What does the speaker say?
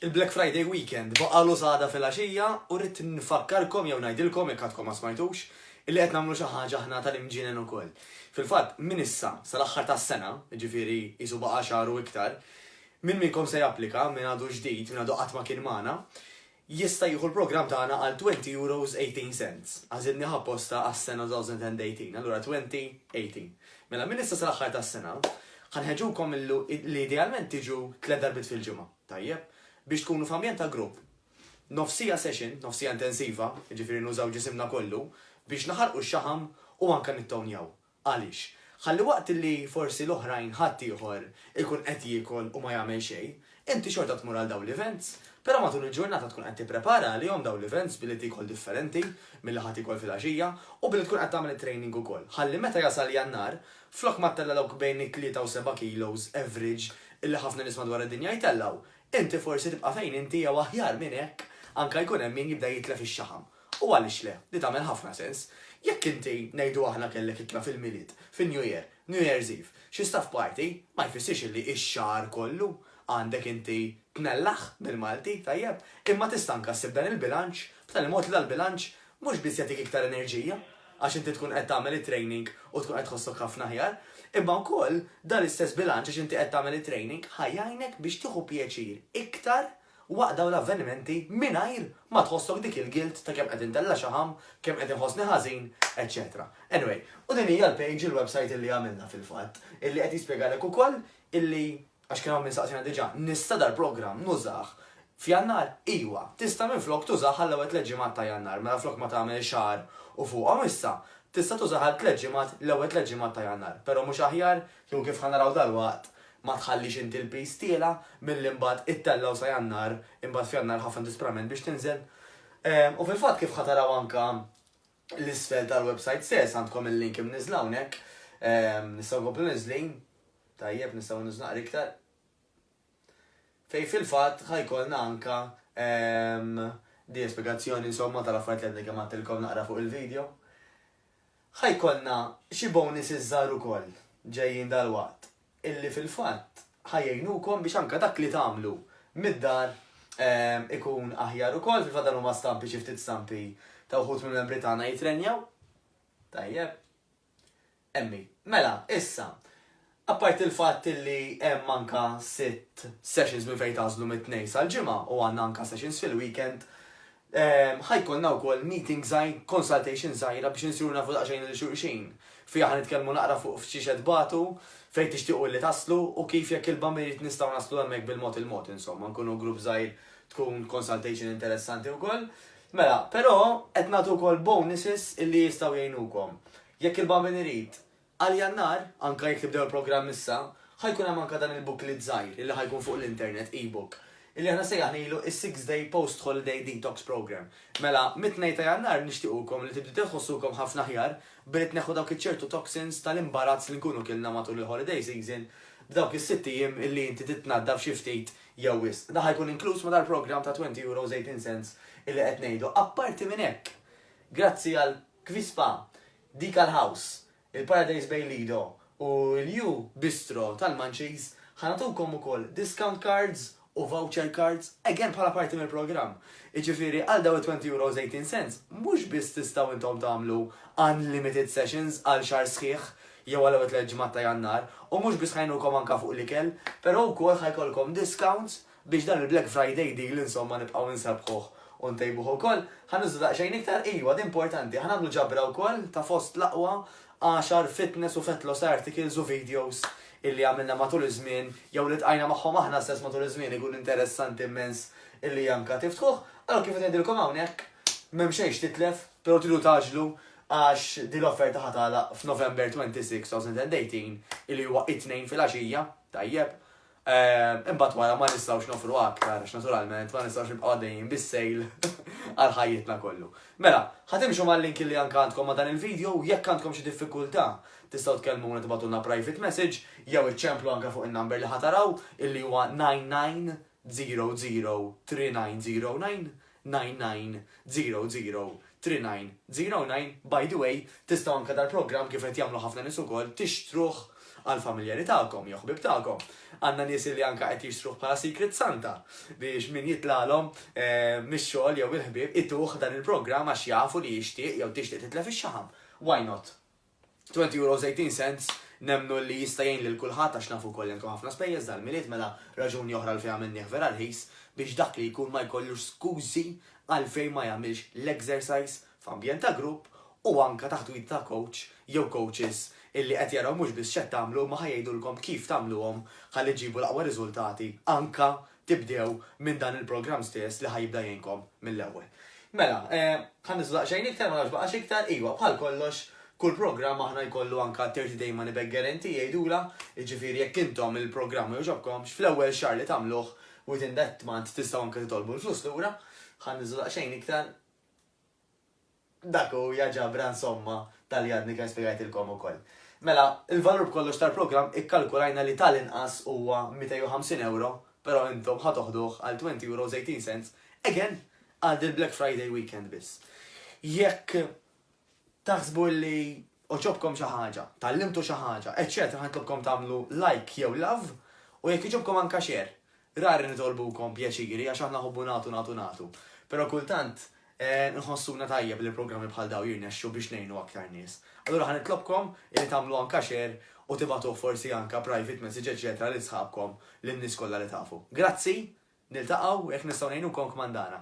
Il-Black Friday weekend baqalu s'għada filgħaxija u rrid nfakkarkom jew ngħidilkom jekk għadkom ma smajtux illi qed nagħmlu xi ħaġa aħna tal-imġienen ukoll. Fil-fatt, minn issa sal-aħħar tas-sena, jiġifieri qisu baqa' xahar u iktar, min minnkom se japplika, min għadu ġdid, min għadu qatt ma kien magħna, jista' jieħu l-programm tagħna għal twenty euros eighteen cents. Għażilnieh apposta għas-sena two thousand and eighteen, allura twenty eighteen. Mela minn issa sal-aħħar tas-sena, ħa nħeġġukom li idealment tiġu tliet darbiet fil-ġimgħa, tajjeb? Biex tkunu f'ambjent ta' grupp, nofsija session, nofsija intensiva, jiġifieri nużaw ġisimna kollu, biex naħarqu x-xaħam u anke nittownjaw. Għaliex? Ħalli waqt li forsi l-oħrajn ħaddieħor ikun qed jiekol u ma jagħmel xejn, inti xorta tmur għal dawn l-events, però matul il-ġurnata tkun qed tipprepara għalihom dawn l-events billi tiekol differenti milli ħa tiekol fil-għaxija u billi tkun qed tagħmel it-training ukoll. Ħalli meta jasal Jannar, flok ma ttella' dawk bejn it-tlieta u seba' kilos average illi ħafna nies madwar id-dinja jtellgħu, inti forsi tibqa' fejn inti jew aħjar minn hekk anke jkun hemm min jibda jitlef ix-xaħam. U għaliex le? Di tagħmel ħafna sens. Jekk inti, ngħidu aħna kellek ikla fil-Milied, fin-New Year, New Year's Eve, xi staff party, ma jfissirx illi x-xahar kollu għandek inti tmellah bil-Malti, tajjeb? Imma tista' anka ssib dan il-bilanċ b'tali mod li dal-bilanċ mhux biss jagħtik iktar enerġija għax inti tkun qed tagħmel it-training u tkun qed tħossok ħafna aħjar, imma wkoll dan l-istess bilanċ għax inti qed tagħmel it-training ħa jgħinek biex tieħu pjaċir iktar waqt dawn l-avvenimenti mingħajr ma tħossok dik il-guilt ta' kemm qed intella' xaħam, kemm qed inħossni ħażin, eċċetera. Anyway, u din hija l-page, il-website illi għamilna fil-fatt, illi qed jispjegalek ukoll illi, għax kien hawn min saqsiena diġà, nista' dal-programm nużah f'Jannar? Iwa, tista' minflok tużah għall-ewwel tliet ġimgħat ta' Jannar, mela flok ma tagħmel xahar u fuqhom issa, tista' tużah għal tliet ġimgħat, l-ewwel tliet ġimgħat ta' Jannar, però mhux aħjar Jew kif ħa naraw dalwaqt, ma tħallix inti l-piż tiela' milli imbagħad ittellgħu sa Jannar, imbagħad f'Jannar ħafna disperament biex tinżel. U fil-fatt kif ħa taraw anke l-isfel tal-websajt stess, għandkom il-link imniżżla hawnhekk, nistgħu nkomplu niżżlin? Tajjeb, nistgħu niżżlu naqra iktar. Fejn fil-fatt ħa jkollna anke din spjegazzjoni insomma tal-affarijiet li għadni kemm għadtilkom naqra fuq il-video. Ħa jkollna xi bonuses żgħar ukoll ġejjin dalwaqt illi fil-fatt ħa jgħinukom biex anke dak li tagħmlu mid-dar ikun aħjar ukoll, fil-fatt dan huma stampi xi ftit stampi ta' wħud mill-membri tagħna jitrenjaw. Tajjeb. Emmi, Mela, issa, apparti l-fatt li hemm anka sitt sessions minn fejn tagħżlu mit-Tnejn sal-Ġimgħa u għandna anka sessions fil-weekend, ħa jkollna wkoll meeting żgħir, consultation żgħira biex insiru nafu daqsxejn lil xulxin. Fiha ħa nitkellmu naqra fuq f'xiex qed tbatu, fejn tixtiequ illi taslu u kif jekk il-Bamba jrid nistgħu naslu hemmhekk bil-mod il-mod insomma, nkunu grupp żgħir tkun consultation interessanti wkoll. Mela, però qed nagħtu wkoll bonuses illi jistgħu jgħinukom. Jekk il-Babin irid, għal Jannar, anke jekk tibdew il-programm issa, ħa jkun hemm anke dan il-booklet żgħir illi ħa jkun fuq l-internet, e-book, illi aħna sejjaħnilu is-Six Day Post-Holiday Detox Program. Mela, mit-Tnejn ta' Jannar nixtiequkom li tibdew tħossukom ħafna aħjar billi tneħħu dawk iċ-ċertu toxins tal-imbarazz li nkunu kilna matul il-holiday season b'dawk is-sitt ijiem illi inti titnaddaf xi ftit jew wisq. Dan ħa jkun inkluż ma' dal-programm ta' €20 18 cents illi qed ngħidu. Apparti minn hekk, grazzi għal Kvispa, Decal House, il-Paradise Bay Lido u l-You Bistro tal-Munchies, ħa nagħtukom ukoll discount cards u voucher cards, again bħala parti mill-programm. Jiġifieri għal dawn it-€20 18 cents, mhux biss tistgħu intom tagħmlu unlimited sessions għal xahar sħiħ, jew għal ewwel tliet ġimgħat ta' Jannar, u mhux biss ħa jgħinukom anke fuq l-ikel, però wkoll ħa jkollkom discounts biex dan il-Black Friday deal insomma nibqgħu nsabbħuh u ntejbuh ukoll. Ħa nuża daqsxejn iktar, ijwa, din importanti, ħa nagħmlu ġabra wkoll ta' fost l-aqwa għaxar fitness u fat loss articles u videos illi għamilna matul iż-żmien jew li ltqajna magħhom aħna stess matul iż-żmien ikun interessanti immens illi anke tiftħuh. Allura kif qed ngħidilkom hawnhekk, m'hemm xejn x'titlef, però tridu tgħaġġlu għax din l-offerta ħa tagħlaq f'November 26, 2018, li huwa it-Tnejn filgħaxija, tajjeb, imbagħad wara ma nistgħux nofru aktar għax naturalment ma nistgħux nibqgħu għaddejjin bis-sejl għal ħajjitna kollu. Mela, ħatimxu mal-link li anke għandkom ma' dan il-video jekk għandkom xi diffikultà tistgħu tkellmuna tibgħatulna private message jew iċċemplu anke fuq in-number li ħa taraw illi huwa 99 0039099999003909 By the way, tistgħu anke dal-programm, kif qed jagħmlu ħafna nies ukoll, tixtruh għall-familjari tagħkom jew ħbieb tagħkom. Għandna nies illi anke qed jixtruh bħala Secret Santa biex min jitlagħlhom mix-xogħol jew il-ħbieb ituh dan il-programm għax jafu li jixtieq jew tixtieq titlef ix-xaħam. Why not? Twenty euros eighteen cents nemmnu li jista' jgħin lil kulħadd għax nafu wkoll li għandkom ħafna spejjeż dal-Milied mela raġuni oħra għalfejn għamilnieh vera rħis biex dak li jkun ma jkollux skużi għalfejn ma jagħmilx l-exercise f'ambjent ta' grupp u anke taħt wid ta' coach jew coaches illi qed jaraw mhux biss x'qed tagħmlu imma ħa jgħidulkom kif tagħmluhom ħalli ġġibu l-aqwa riżultati anke tibdew minn dan il-programm stess li ħa jibda jgħinkom mill-ewwel. Mela, ħa niżlu daqsxejn iktar, ma nafx baqax iktar, iva, bħal kollox, kull programm aħna jkollu anka 30 day money back guarantee jgħidulha, jiġifieri jekk intom il-programm ma jogħġobkomx, fl-ewwel xahar li tagħmluh, within that month tistgħu anke titolbu l-flus lura, ħa niżlu daqsxejn iktar, Dak hu, ja ġabra, insomma, ta' li għadni kemm spjegajtilkom ukoll. Mela, il-valur b'kollox tal-programm ikkalkulajna li ta' l-inqas huwa 250 ewro, però intom ħa toħduh għal €20.18, again, għal dil-Black Friday weekend biss. Jekk taħsbu li għoġobkom xi ħaġa, tgħallimtu xi ħaġa, eċċetera, ħa nitlobkom tagħmlu like jew love u jekk jogħġobkom anke share. Rari nitolbukom pjaċiri għax aħna nħobbu nagħtu nagħtu nagħtu. Però kultant nħossuna tajjeb li programmi bħal dawn jirnexxu biex ngħinu aktar nies. Allura ħa nitlobkom illi tagħmlu anka share u tibagħtuh forsi anka private message eċċetera lil sħabkom lin-nies kollha li tafu. Grazzi! Niltaqgħu jekk nistgħu ngħinukom kmandana.